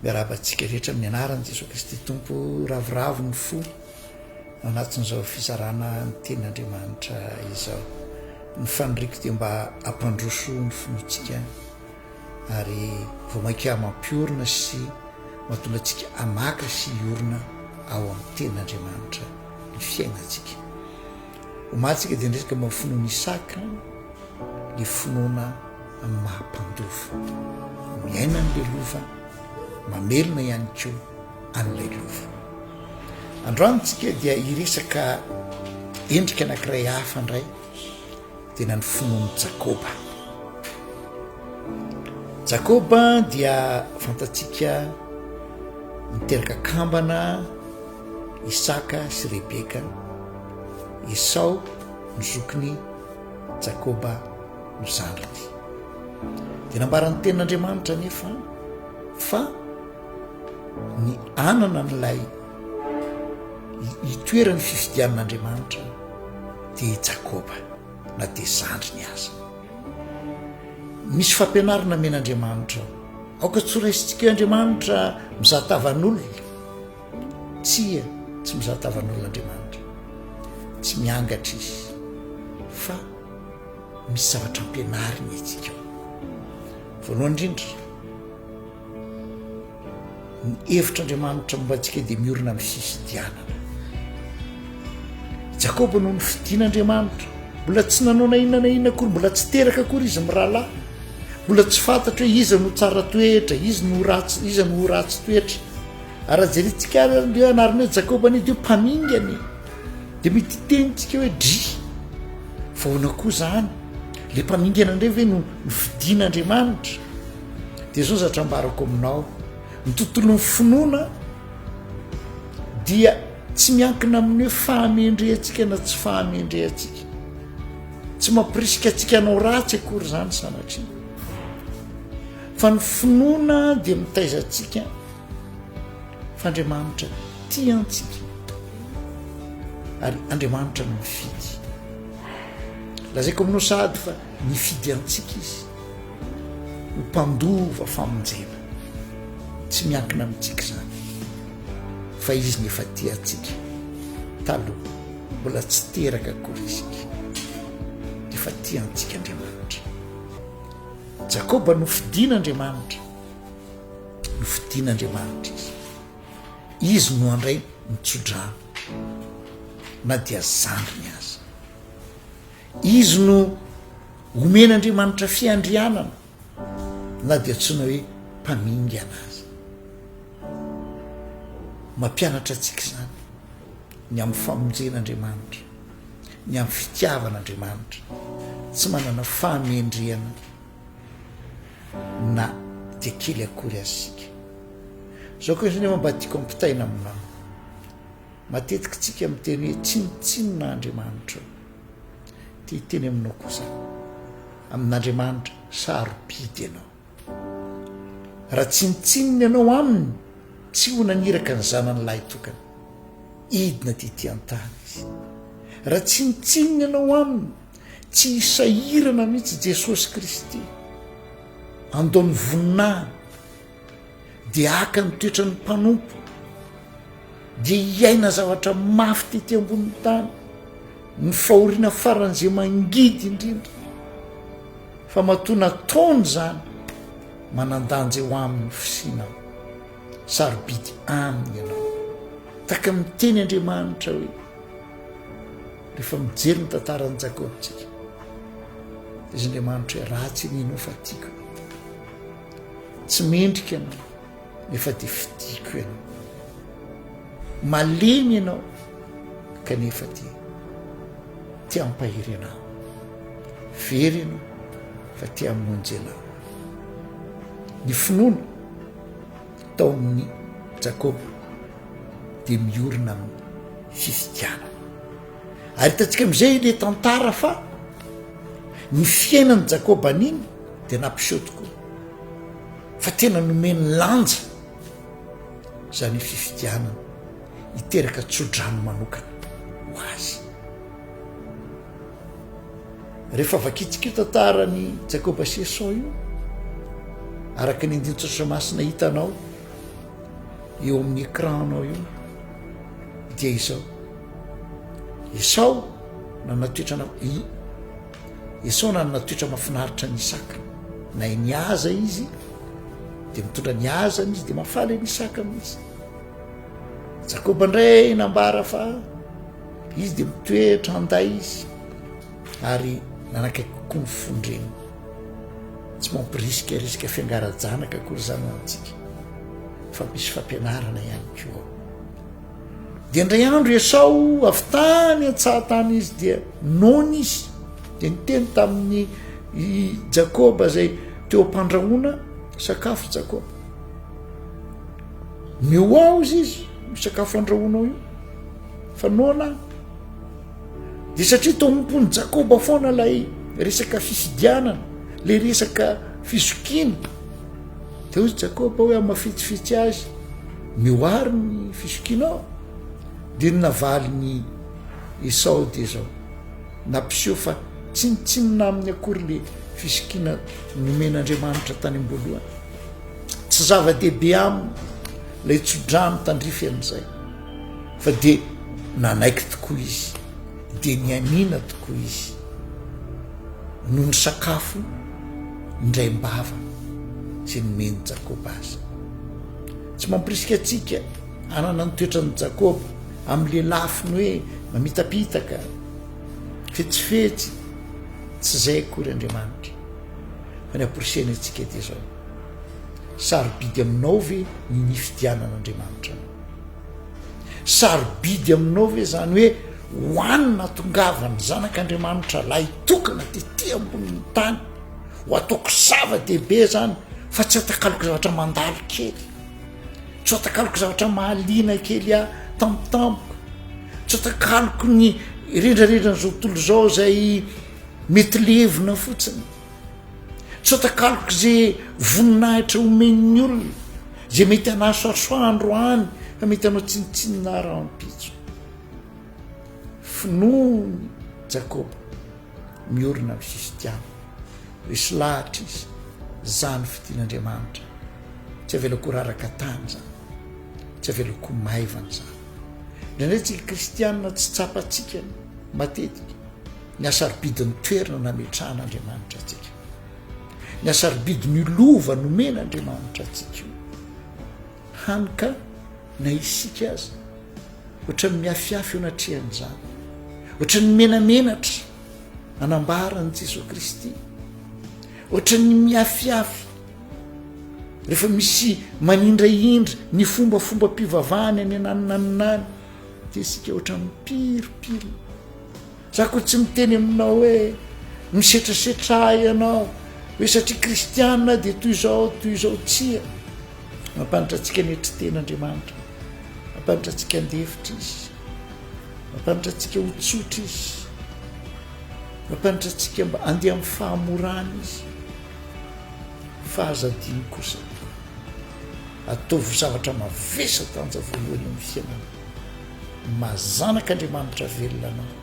Miarahaba antsika rehetra amin'ny anaran'i Jesoa Kristy Tompo. Ravoravo ny fo ao anatin'izao fizarana ny tenin'Andriamanitra izao. Ny faniriako dia mba hampandroso ny finoantsika ary vao mainka mampiorina sy mahatonga antsika hamaka sy hiorina ao amin'ny tenin'Andriamanitra ny fiainantsika. Omalintsika dia niresaka momba ny finoan'i Isaka, ilay finoana amin'ny maha mpandova, miaina an'ilay lova, mamelona ihany koa an'ilay lova. Androany tsika dia hiresaka endrika anankiray hafa indray, tena ny finoan'i Jakoba. Jakoba dia fantatsika niteraka kambana Isaka sy Rebeka, Esao no zokiny, Jakoba no zandriny. Dia nambaran'ny tenin'Andriamanitra anefa fa ny anana an'ilay itoeran'ny fifidianan'Andriamanitra dia i Jakoba na dia zandriny aza. Misy fampianarana men'Andriamanitra ao. Aoka tsy ho raisintsika eo Andriamanitra mizatavan'olona. Tsia, tsy mizaha tavan'olona Andriamanitra. Tsy miangatra Izy. Fa misy zavatra ampianariny antsika ao. Voalohany indrindra, ny hevitr'Andriamanitra momba antsika dia miorina amin'ny fifidianana. Jakoba no nofidin'Andriamanitra. Mbola tsy nanao na inona na inona akory, mbola tsy teraka akory izy mirahalahy. Mbola tsy fantatro hoe iza no tsara toetra, iza no ratsy, iza no ho ratsy toetra. Raha jerintsika ary an'ireo anarana hoe Jakoba anie dia mpamingana e, dia mety hitenitsika hoe dry fa ahoana koa izany? Ilay mpamingana indray ve no nofidin'Andriamanitra? Dia izao zatra ambarako aminao, ny tontolon'ny finoana dia tsy miankina amin'ny hoe fahamendrehantsika na tsy fahamendrehantsika. Tsy mampirisika antsika hanao ratsy akory izany sanatria. Fa ny finoana dia mitaiza antsika Fa Andriamanitra tia antsika ary Andriamanitra no mifidy. Lazaiko aminao sahady fa nifidy antsika izy ho mpandova famonjena. Tsy miankina amintsika izany fa izy no efa tia antsika taloha mbola tsy teraka akory isika. Efa tia antsika Andriamanitra. Jakoba nofidin'Andriamanitra. Nofidin'Andriamanitra izy. Izy no handray ny tso-dra na dia zandriny aza. Izy no homen'Andriamanitra fiandrianana na dia antsoina hoe mpamingana aza. Mampianatra antsika izany ny amin'ny famonjen'Andriamanitra, ny amin'ny fitiavan'Andriamanitra tsy manana fahamendrehana. na dia kely akory aza isika. Izao kosa anefa mba tiako ampitaina aminao. Matetika isika miteny hoe tsinontsinona Andriamanitra. Te hiteny aminao kosa amin'Andriamanitra sarobidy ianao. Raha tsinontsinona ianao aminy, tsy ho naniraka ny zanany lahy tokana. Hidina tety an-tany izy. Raha tsinontsinona ianao aminy, Tsy hisahirana mihitsy Jesosy Kristy handao ny voninahiny dia haka ny toetran'ny mpanompo dia hiaina zavatra mafy tety ambonin'ny tany ny fahoriana faran'izay mangidy indrindra fa matoa nataony izany manandanja eo amin'ny fisinao sarobidy aminy ianao taka miteny Andriamanitra hoe Rehefa mijery ny tantaran'i Jakoba isika, dia izy Andriamanitra hoe ratsy ny ianao fa tiako ianao. Tsy mendrika ianao nefa dia fidiko ianao. Malemy ianao kanefa dia te hampahery anao. Very ianao fa te hamonjy anao. Ny finoana taon'ny Jakoba dia miorina amin'ny fifidianana. Ary hitantsika amin'izay ilay tantara fa ny fiainan'i Jakoba an'iny dia nampiseho tokoa fa tena nomeny lanja izany fifidianana hiteraka tsodrano manokana ho azy. Rehefa vakintsika io tantaran'i Jacob Sesson io, araka ny andinin-tsoratra masina hitanao eo amin'ny écran-nao io, dia izao. Esao nanana toetra na Esao nanana toetra mahafinaritra ny Isaka. Na ny aza izy dia mitondra ny azany izy dia mahafaly ny Isaka mihitsy. Jakoba indray nambara fa Izy dia mitoetra andahy izy ary nanakaiky kokoa ny fon-dreniny. Tsy mampirisikarisika fiangara-janaka akory izany ho antsika, fa misy fampianarana ihany koa ao. Dia indray andro i Esao avy tany an-tsahatany izy dia noana izy, dia niteny tamin'ny i Jakoba izay teo am-pandrahoana sakafo Jakoba. Mihoahoza izy, sakafo andrahoanao io. Fa noana dia satria tompon'i Jakoba foana ilay resaka fifidianana, ilay resaka fizokiana. Dia hoy Jakoba hoe amafetsifetsy azy ny hoary ny fizokianao. Dia ny navalin'i Esao dia izao, nampiseho fa tsinontsinona aminy akory ilay fizokiana nomen'Andriamanitra tany am-boalohany. Tsy zava-dehibe aminy ilay tsodrano tandrify an'izay. Fa dia nanaiky tokoa izy, dia nianiana tokoa izy no nisakafo indraim-bava izay nomen'i Jakoba azy. Tsy mampirisika antsika hanana ny toetran'i Jakoba amin'ilay lafiny hoe mamitapitaka, fetsifetsy, tsy izay akory Andriamanitra. Fa ny amporisihany antsika dia izao, sarobidy aminao ve ny nifidianan'Andriamanitra anao? Sarobidy aminao ve zany hoe hoanina tongavany zanak'Andriamanitra lahy tokana tety ambonin'ny tany ho ataoko zava-dehibe zany fa tsy atakaloko zavatra mandalo kely tsy atakaloko zavatra mahaliana kely ah tampotampoka tsy atakaloko ny rendrarendra ny zao tontolo izao zay mety levona fotsiny Tsy atakaloko ze voninahitra omen'ny olona, ze mety anasoasoa androany fa mety anao tsinontsinona rahampitso. Finoany Jakoba miorina amin'ny fifitiavana. Resy lahatra izy, zany fitian'Andriamanitra. Tsy avelako ho raraka tany zany. Tsy avelako ho maivana zany. Indraindray tsika kristianina tsy tsapantsika matetika Ny hasarobidy ny toerana nametrahan' Andriamanitra antsika. Ny hasarobidy ny lova nomen' Andriamanitra antsika io. Hany ka na isika aza, ohatran'ny miafiafy eo anatrehan'izany, ohatran'ny menamenatra anambara an'i Jesoa Kristy, ohatran'ny miafiafy rehefa misy manindraindra ny fombafombam-pivavahany any ananinaninany, dia isika ohatran'ny piripirina. Za ko tsy miteny aminao hoe misetrasetra ahy ianao hoe satria kristiana dia toy izao toy izao tsia mampanitra antsika ny hetry tena Andriamanitra mampanitra antsika andefitra izy mampanitra antsika ho tsotra izy mampanitra antsika mba andeha amin'ny fahamorana izy fa aza adino kosa ataovy zavatra mavesa tanja voalohany amin'ny fiainana Maha zanak' Andriamanitra velona anao,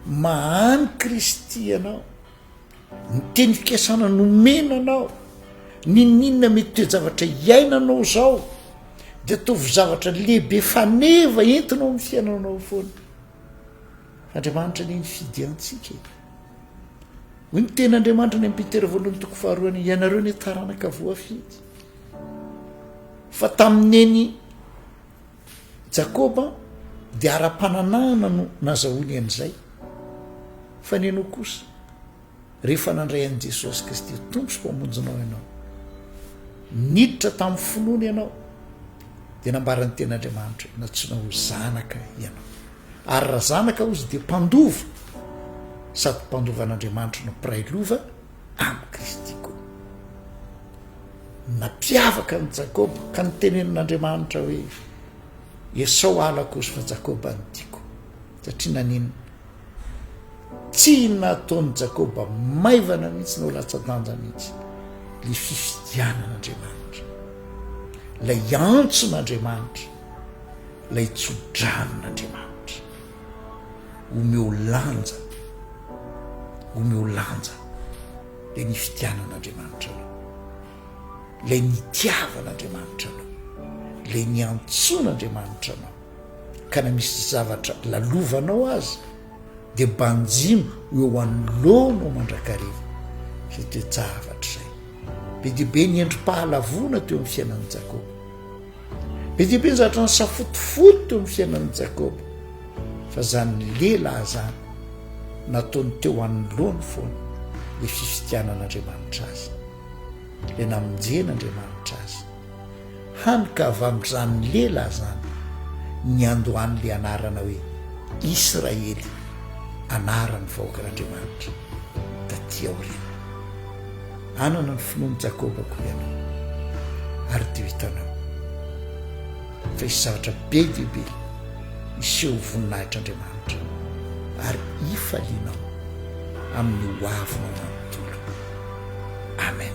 maha any Kristy ianao, ny teny fikasana nomena anao, ninoninona mety toe-javatra iainanao zao dia ataovy zavatra lehibe faneva entina ao amin'ny fiainanao foana. Andriamanitra anie nifidy antsika e. Hoy ny teny Andriamanitra ny Petera voalohany toko faharoa any, ianareo anie taranaka voafidy. Fa tamin'ny eny Jakoba dia ara-pananahana no nazahoany an'izay, fa ny anao kosa, rehefa nandray an'i Jesosy Kristy ho Tompo sy Mpamonjinao ianao, niditra tamin'ny finoana ianao, dia nambaran'ny teny Andriamanitra hoe nantsoina ho zanaka ianao. Ary raha zanaka hozy dia mpandova, sady mpandovan'Andriamanitra no mpiray lova amin'i Kristy koa. Nampiavaka an'i Jakoba ka nitenenin'Andriamanitra hoe, Esao halako sy fa Jakoba no tiako. Satria naninona? Tsy nataon'i Jakoba maivana mihitsy na ho latsa-danja mihitsy ilay fifidianan'Andriamanitra, ilay antson'Andriamanitra, ilay tso-dranon'Andriamanitra. omeo lanja, omeo lanja le ny fitianan'Andriamanitra anao, le nitiavan'Andriamanitra anao, le niantsoan'Andriamanitra anao ka na misy zavatra lalovanao aza de banjino ho eo anoloanao mandrakariva zay toe-javatra zay. Be dia be ny endri-pahalavoana teo amin'ny fiainan'i Jakoba. Be dia be ny zavatra nisafotofoto ny fiainan'i Jakoba, fa izany lehilahy izany nataony teo anoloany foana ilay fifidianan'Andriamanitra azy, ilay namonjen'Andriamanitra azy, hany ka avy amin'izany lehilahy izany niandohan'ilay anarana hoe Israely, anaran'ny vahoakan'Andriamanitra. taty aoriana. Hanana ny finoan'i Jakoba koa ianao, ary dia ho hitanao fa hisy zavatra be dia be hiseho ho voninahitr'Andriamanitra, ary hifalianao amin'ny hoavy manontolo. Amen.